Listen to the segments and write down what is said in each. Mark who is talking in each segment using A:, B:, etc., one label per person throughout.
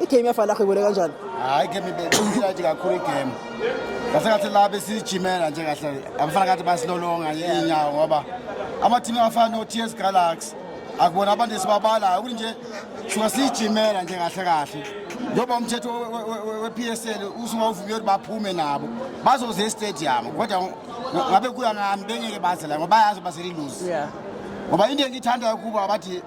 A: igame yafana khwebole kanjani hayi game
B: ibeyirayithi kakhulu igame ngase ngathi la besijimela nje kahle abafana kathi basilolonga inyawo ngoba amathimu afana no-t s galaxy akubona abantu esibabalayo ukuthi nje shuka siyijimela nje kahle kahle njengoba umthetho we-p s l usuke uvume ukuthi baphume nabo bazoze estadium kodwa ngabe kuya ngami bengeke baze la ngoba bayazi baseliluzi ngoba
A: into
B: engiyithandayo kubo abathi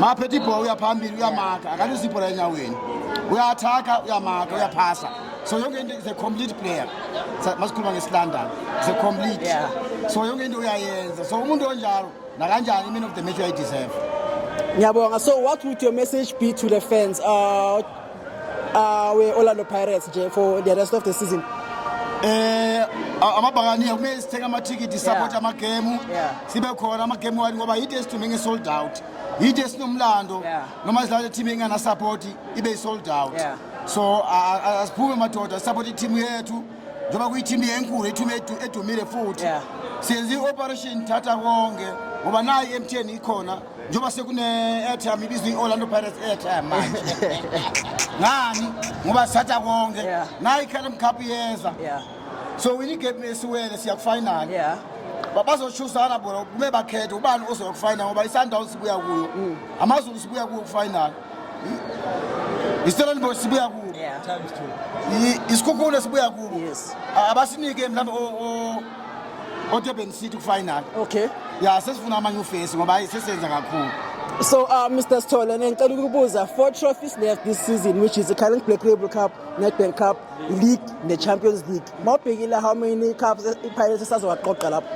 B: maphethe ibhola uyaphambili uyamakha akalisi ibhola enyaweni uyathakha uyamakha uyaphasa so yonke into is a complete player masikhuluma ngesilondon is a complete yeah. so yonke
A: into
B: uyayenza so umuntu onjalo nakanjani iman of the match uyayideserve ngiyabonga
A: so what would your message be to the fans uh, awe uh, Orlando Pirates nje for the rest of the season eh
B: amabhakaniya kumele sithenge amathikithi support amagemu sibe khona amagemu wani ngoba yide sithume nge-sold out yide sinomlando noma sidlala le-team enganasapoti ibe yi-sold out so asiphume madoda sisapota i-team yethu njengoba kuyi-team yenkulu i-team edumile futhi siyenza i-operation thatha konke ngoba nayo i-mtn ikhona njengoba sekune-airtime ibizwa i-orlando pirates airtime manje ngani ngoba sithatha konke Yeah. nayo i-calum cup iyeza Yeah. so wini igame esiwele siya kufinal Yeah. Ba- bazoshusana bona kume bakhethe ubani ozoya kufinal ngoba i-sundowns sibuya kuyo Mm. amazulu sibuya kuyo kufinal istellenbosh sibuya kuyo Yeah.
A: I- isikhukhune sibuya
B: kubo Yes. A- abasinike mhlawumbe o- o- odurban city kufinal okay ya
A: sesifuna amanye
B: ufesi ngoba hayi sesenza kakhulu So, uh,
A: Mr. Stola, ngicela ukubuza four trophies left this season, which is the current Black Label Cup, Nedbank Cup, League, the Champions League. Mawubhekile how many cups i-Pirates esazowaqoqa lapho?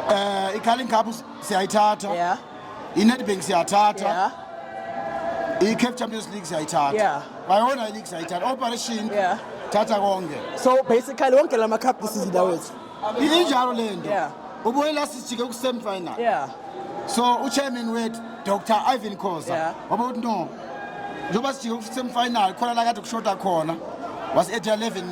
A: Eh,
B: i-Carling Cup siyayithatha. Yeah. inedbank siyathatha yeah. i-cape champions league siyayithatha yeah. bayona i-league siyayithatha operation yeah. thatha konke so basically
A: wonke la macup this is ndawethu injalo le
B: nto yeah. ubuye la sijike ku-semifinal yeah. so uchairman wethu dr ivan khoza yeah. waba ukuthi no njengoba sijike ku-semifinal khona la kade kushoda khona was-8 11